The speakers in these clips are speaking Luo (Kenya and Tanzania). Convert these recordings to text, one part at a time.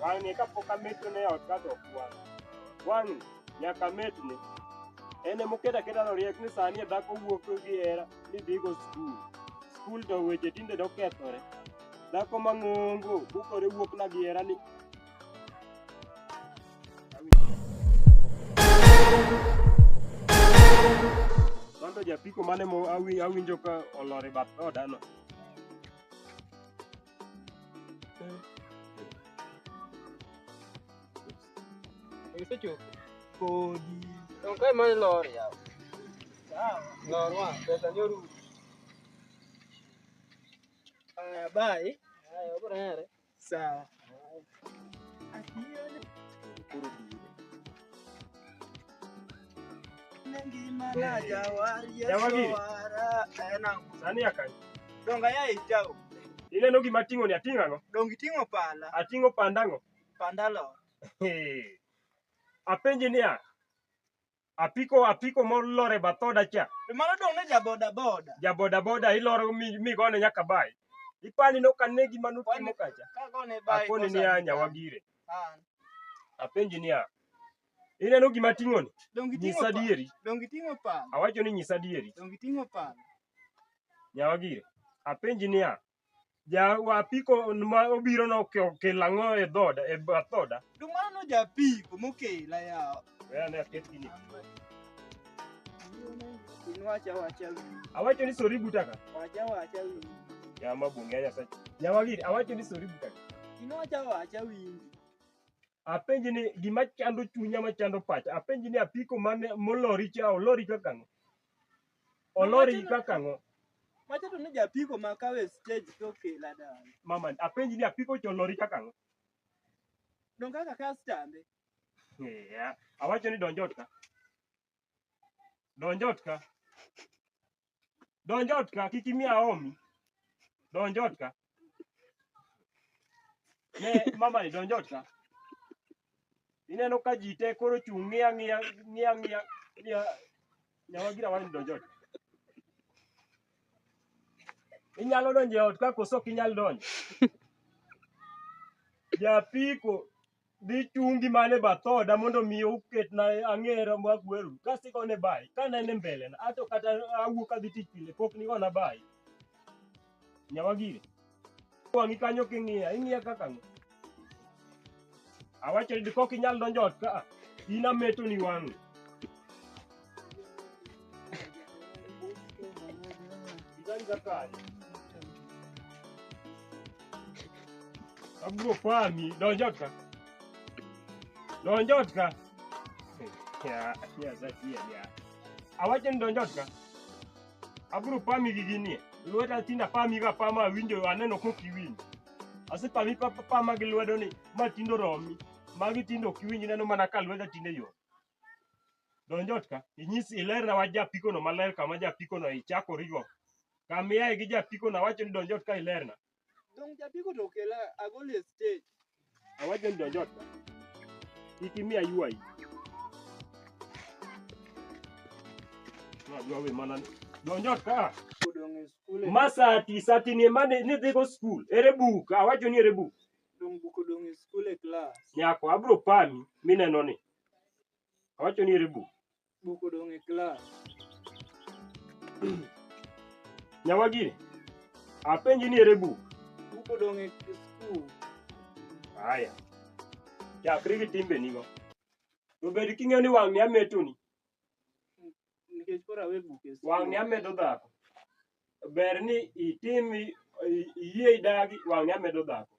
Wang'e kapok ametne ne ot kato ok wang'. Wang'ni nyaka ametne. En ema oketo aketa ni oriek ni sani e dhako wuok gi hera ni dhigo skul. Skul to weche tinde dokethore. Dhako mang'ongo bukore wuokna gi hera ni Mano japiko mane mo awi- awinjo ka olor e bath odano. Isechopo. Kodi. Donge kae mane lor yawa. Sawa. Lor wa, pesa ni orumo. Aya, bye. Haya, obro here. Sawa. Donga ya itao. Ile no gima ting'o ni ating'o ang'o? Dongi ting'o pala. Ating'o panda ang'o? Panda lo. Apenji niya, apiko apiko molor e bath oda cha To mano dong' ne jaboda boda. jaboda boda iloro mi- migone nyaka bai ipani nokane gima notimo kacha Ka gone bai. akoni kosa niya ni nyawa kan. gire An. apenji niya ineno gima ting'oni Dong' giting'o nyisa pala. adieri Dong' giting'o pala. awacho ni nyisa adieri Dong' giting'o pala. nyawa gire apenji niya Ja wa apiko ma obiro no ke- okel ang'o e dhoda e bath dhoda. Dum mano no japiko mokela yawa. We ane aket gini. In wacha wacha wiyi, Awacho ni sori butaka. wacha wacha wiyi. Yama bunge nyasaye. Yama gidi awacho ni sori butaka. In wacha wacha wiyi. Apenji ni gima chando chunya ma chando pacha. Apenji ni apiko mane molori cha olori kaka ang'o. Olori kaka ang'o? Macha to ne japiko ma kawe stage to kela dala. Mama, apenji ni apiko cha olori kaka ang'o? Don kaka kastambe. Yeah. Awacho ni donjot ka. Donjot ka. Donjot ka kik imiya omi. Donjot ka. Ne mama ni donjo ot ka. Ineno ka ji te koro chung' ng'iya ng'iya ng'iya ng'iya ng'iya nyawa gira wani donjo ot. Inyalo donjo e ot ka koso ok inyal donjo. Japiko dhi chungi man e bath oda mondo mi oketna ang'era ma agweru kasto igone bai kanene mbelena ato kata awuok adhi tich pile pok nigona bai nyawa gire wang'i kanyo king'iya ing'iya kaka ng'o awacho ni kok inyal donjo ot ka in ametoni wang'i Sidhani kaka Abro fani donjotka. Donjotka. Ya, ya zaki ya. ya. Awache ni donjotka. Abro pami giginie. Lweta tinda pami ga pama winjo aneno koki winjo. Ase pami papa pama gi lwedo ni ma tindo romi. Magi tindo kiwinji neno mana ka lweta tinde yo. Donj ot ka. Inyis ilerna wach japikono maler kama japikono ichako riwruok. Kama iaye gi japikono awacho ni donj ot ka ilerna. Donj japiko to okela agol e stage. Awacho ni donj ot ka. Kik imi aywayi. Adwa we mana ni. Donj ot ka. Odong' e skul. Ma sati, sati ni ema ni- nidhigo skul. Ere buk? Awacho ni ere buk. Dong' buk odong' e skul e klas. Nyako, abro pami mineno ni. Awacho ni ere buk. Buk odong' e klas. Nyawagiri, apenji ni ere buk. Buk odong' e skul. Haya. Chakri gi timbenigo. To bed king'eyo ni wang' miya metoni. nikech koro awe buk e skul. Wang'ni amedo dhako. Ber ni itim i- i- iyie idagi wang'ni amedo dhako.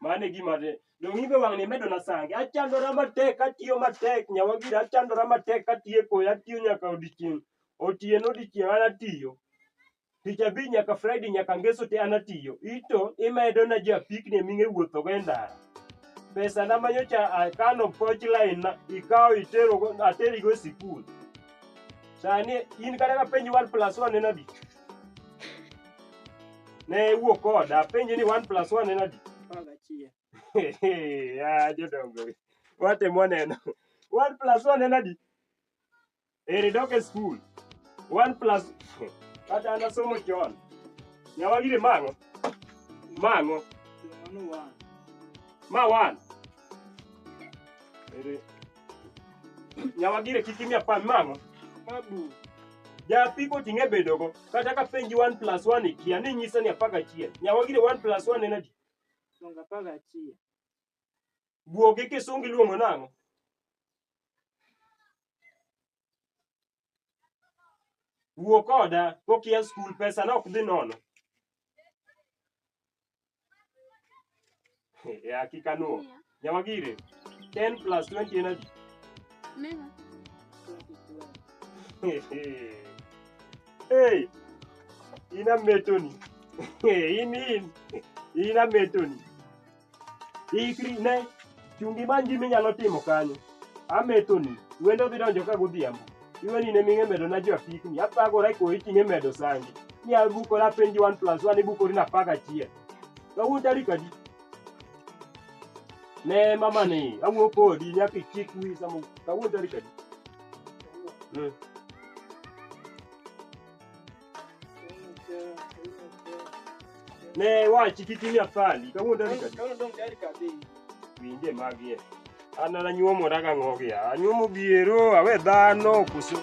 Mano e gima de. Donge ibe wang'ni imedona sange. Achandora matek, atiyo matek, nyawagira achandora matek, atiyo e koyo, atiyo nyaka odiechieng'. Otieno odiechieng' an atiyo. tich abich nyaka friday nyaka ngeso te an atiyo ito imedo na ji apikni eming'e wuothogo e ndara pesa na manyocha akano poch line na ikawo iterogo aterigo e sikul sani in kata ka penji one plus one en adi ne iwuok koda apenji ni one plus one en adi Apar gachiel. Ah, jodongo watemo neno one plus one en adi Eri dok e skul. One plus kata an asomo chon. Nyawagire mang'o? Mang'o. Ma one. Eri. Nyawagire kik imiya pan mang'o. Japipo ting'e bedogo. Kata ka penji one plus one ikia ni nyisa ni apaka achiel. Nyawagire one plus one en adi? Guok gi kisungu iluongo nang'o? Wuo koda kokia skul, pesa no ok dhi nono. E hakika nuo. Nyawagire, 10 plus 20 en adi? Neno. Hey, ina metoni. In in, ina metoni. Ikri ne chungi imany gima inyalo timo kanyo. Amethoni, wendo dhi donjo ka godhiambo. Iweni ne ming'e medo na jo apikni, athagora e koyi ting'e medo sangi. Ni abukora penji one plus one ibukori na apar gachiel. Kawuono tarik adi? Ne mama ni, awuo kodi nyaka ichik wi samo kawuono tarik adi? Mm. Ne wachi kik imiya fali. Kawuono tarik adi? Kawuono dong' tarik adi? Winje magie. An an anyuomora gang'o gia. Anyuomo biero, awe dhano, koso.